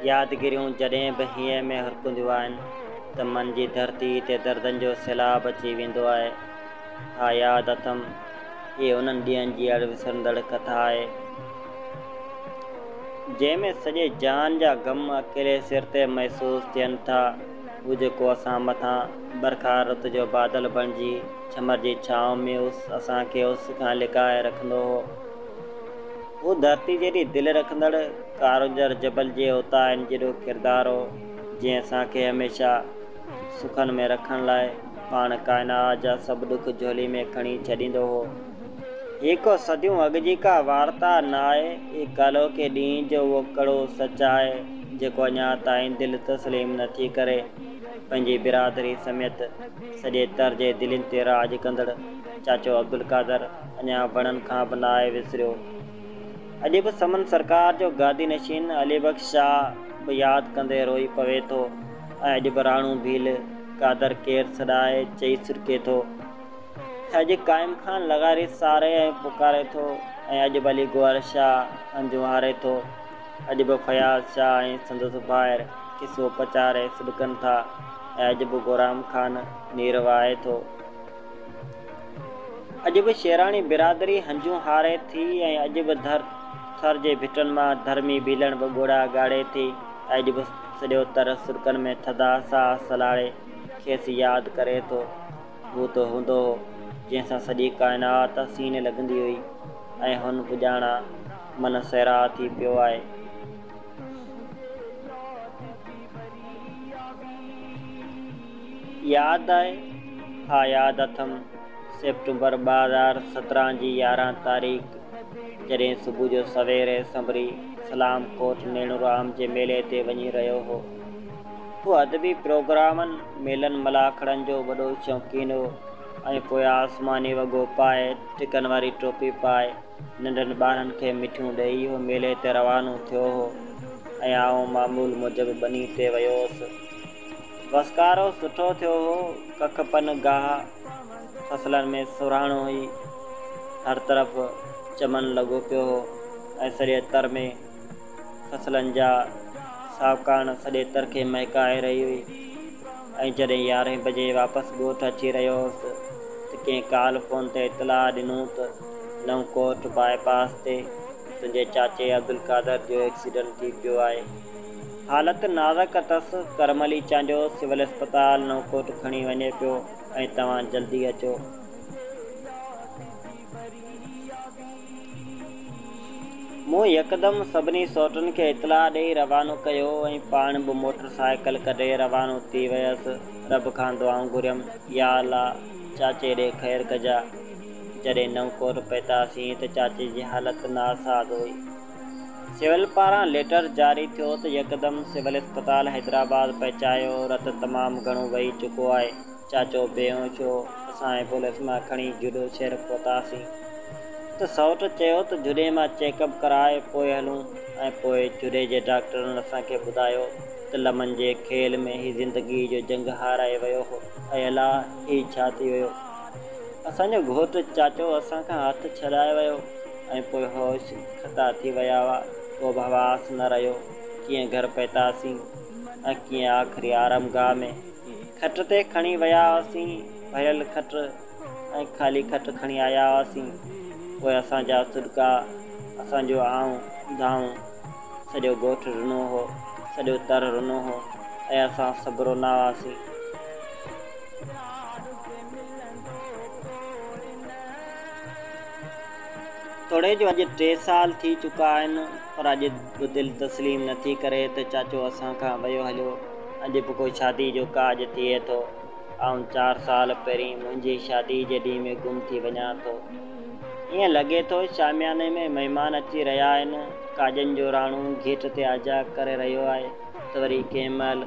يادگيريون جڏهن به هيء ۾ هرڪنديون آهن ته من جي ڌرتيء تي دردن جو سيلاب اچي ويندو آهي. ها ياد اٿم، هيء انهن ڏينهن جي اڻ وسرندڙ ڪٿا آهي، جنهن ۾ سڄي جهان جا غم اڪيلي سر تي محسوس ٿين ٿا. هو جيڪو اسان مٿان برکا رت جو بادل بڻجي ڇمر جي ڇانو ۾ اس اسان کي اس کان لڪائي رکندو هو. هو ڌرتي جيڏي دل رکندڙ ڪارونجهر جبل جي اوتاهين جيڏو ڪردار هو، جنهن اسان کي هميشه سکن ۾ رکڻ لاء پاڻ ڪائناات جا سڀ ڏک جهولي ۾ کڻي ڇڏيندو هو. هيء ڪو صديون اڳ جي ڪا وارتا ناهي، اي ڪالهوڪي ڏينهن جو اهو ڪڙو سچ آهي، جيڪو اڃا تائين دل تسليم نه ٿي ڪري. پنهنجي برادري سميت سڄي تر جي دلين تي راڄ ڪندڙ چاچو عبدالقادر اڃا وڻن کان به ناهي وسريو. اڄ به سمن سرڪار جو گادي نشين علي بخش شاهه به ياد ڪندي روئي پوي ٿو ۽ اڄ به راڻو ڀيل قادر ڪير سڏائي چئي سڏڪي ٿو. اڄ قائم خان لغاري ساري ۽ پڪاري ٿو ۽ اڄ به علي گوهر شاهه هنجون هاري ٿو. اڄ به فياض شاهه ۽ سندس ڀائر قصو پچاري سڏڪن ٿا ۽ اڄ به گورام خان نير وهائي ٿو. اڄ به شيراڻي برادري هنجون هاري ٿي ۽ اڄ به ڌر ٿر جي ڀٽن مان ڌرمي ڀيلڻ به ڳوڙها ڳاڙي ٿي ۽ اڄ به سڏيو تر سڏڪن ۾ ٿڌا ساهه سلهاڙي کيس ياد ڪري ٿو. هو ته هوندو هو، جنهن سان سڄي ڪائنات حسين لڳندي هئي ۽ هن پڄاڻان من سيراء ٿي پيو آهي. ياد آهي؟ ها ياد اٿم، سيپٽمبر ٻه هزار سترهن جي يارهن تاريخ، جڏهن صبح جو سوير هي سنڀري سلام ڪوٽ نيڻو رام جي ميلي تي وڃي رهيو هو، هو ادبي پروگرامن، ميلن ملاکڙن جو وڏو شوقين هو ۽ پوء آسماني وڳو پائي، ٽڪن واري ٽوپي پائي، ننڍن ٻارن کي مٺيون ڏيئي هو ميلي تي روانو ٿيو هو ۽ آئون معمول موجب ٻني تي ويو هوس. وسڪارو سٺو ٿيو هو، ڪک پن گاهه فصلن ۾ سرهاڻو هئي، هر طرف چمن لڳو پيو هو ۽ سڄي تر ۾. فصلن جا ساهوڪاڻ سڄي ترکي مهڪائي رهي هئي ۽ جڏهن يارهين بجي واپس ڳوٺ اچي رهيو هوس ته ڪنهن ڪال فون تي اطلاع ڏنو ته نئون ڪوٽ باء پاس تي تنهنجي چاچي عبدالقادر جو ايڪسيڊنٽ ٿي پيو آهي. حالت نازڪ اٿس، ڪرم علي چانڊيو سول اسپتال نئون ڪوٽ کڻي وڃي پيو ۽ توهان جلدي اچو. مون يڪدم سڀني سوٽن کي اطلاع ڏيئي روانو ڪيو ۽ پاڻ به موٽر سائيڪل ڪڍي روانو ٿي ويس. رب کان دعائون گهريم، يا الله! چاچي ڏي خير ڪجاء. جڏهن نئون ڪوٽ پهتاسين ته چاچي جي حالت ناساز هئي. سول پاران ليٽر جاري ٿيو ته يڪدم سول اسپتال حيدرآباد پهچايو، رت تمام گهڻو وهي چڪو آهي. چاچو بيهوشو اسان ايمبولينس مان کڻي جهڏو شهر پهتاسين ته سئوٽ چيو ته جهڏي مان چيڪ اپ ڪرائي پوء هلون ۽ پوء جهڏي جي ڊاڪٽرن اسان کي ٻڌايو ته لمن جي کيل ۾ هي زندگي جو جنگ هارائي ويو هو اي الا هي ڇا ٿي ويو اسان جو گهوٽ چاچو اسان کان هٿ ڇڏائي ويو ۽ پوء هوش کتا ٿي ويا هئا ڪو به حواس نه رهيو ڪيئن گهر پهتاسين ۽ ڪيئن آخري آرامگاهه ۾ کٽ تي کڻي ويا هئاسين، ڀريل کٽ ۽ خالي کٽ کڻي آيا هئاسين، پوء اسان جا سڏڪا، اسان جو آئون دانهون، سڄو ڳوٺ رنو هو، سڄو تر رنو هو ۽ اسان سڀ رونا هئاسين. توڙي جو اڄ ٽي سال ٿي چڪا آهن، پر اڄ به دل تسليم نه ٿي ڪري ته چاچو اسان کان ويو هليو. اڄ به ڪو شادي جو ڪاڄ ٿئي ٿو، آئون چار سال پهرين منهنجي شادي جي ڏينهن ۾ گم ٿي وڃان ٿو. ائين لڳي ٿو شامياني ۾ مهمان اچي رهيا آهن، ڪاڄن جو راڻو گيٽ تي آجيا ڪري رهيو آهي ته وري ڪنهن مهل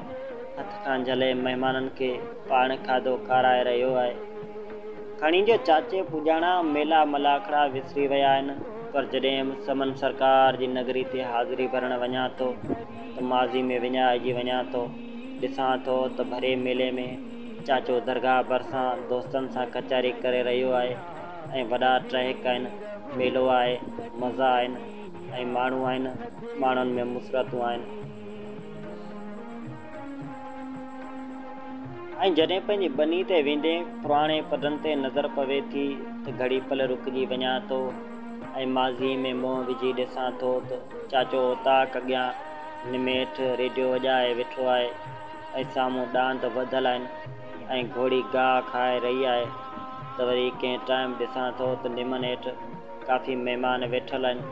هٿ کان جهلي مهمانن کي پاڻ کاڌو کارائي رهيو آهي. کڻي جو چاچي پڄاڻا ميلا ملاکڙا وسري ويا آهن، پر جڏهن به سمن سرڪار جي نگري تي حاضري ڀرڻ وڃان ٿو ته ماضي ۾ وڃائجي وڃان ٿو. ڏسان ٿو ته ڀري ميلي ۾ چاچو درگاهه ڀرسان دوستن سان ڪچهري ڪري رهيو آهي ۽ وڏا ٽهڪ آهن، ميلو آهي، مزا آهن ۽ ماڻهو آهن، ماڻهن ۾ مسرتون آهن. ۽ جڏهن پنهنجي ٻني تي ويندي پراڻي پڊن تي نظر پوي ٿي ته گهڙي پل رڪجي وڃان ٿو ۽ ماضيء ۾ منهن وجهي ڏسان ٿو ته چاچو اوطاق اڳيان نميٺ ريڊيو وڄائي ويٺو آهي ۽ سامهون ڏاند وڌل آهن ۽ گهوڙي گاهه کائي رهي آهي ته وري ڪنهن ٽائيم ڏسان ٿو ته نمن هيٺ ڪافي مهمان ويٺل آهن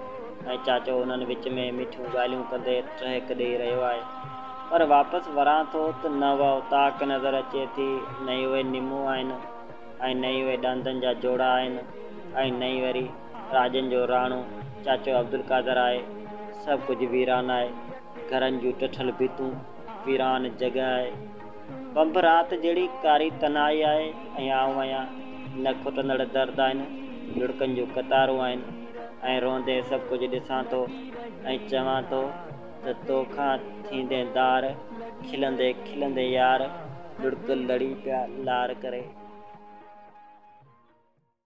۽ چاچو انهن وچ ۾ مٺيون ڳالهيون ڪندي ٽهڪ ڏيئي رهيو آهي. پر واپس وران ٿو ته نه اها اوطاق نظر اچي ٿي، نه ئي اهي نمون آهن ۽ نه ئي اهي ڏاندن جا جوڙا آهن ۽ نه ئي وري راڄن جو راڻو چاچو عبدالقادر آهي. سڀ ڪجهه ويران آهي. گهرن جون ٽٺل ڀتون، ويران جڳهه آهي. بنب رات جهڙي ڪاري تنهائي آهي ۽ آئون آهيان. نه کٽندڙ درد آهن، لڙڪن جون قطارون آهن ۽ روئندي سڀ ڪجهه ڏسان ٿو ۽ چوان ٿو، ته تو کان ٿيندين ڌار، کلندي کلندي يار، لڙڪ لڙي پيا لار ڪري.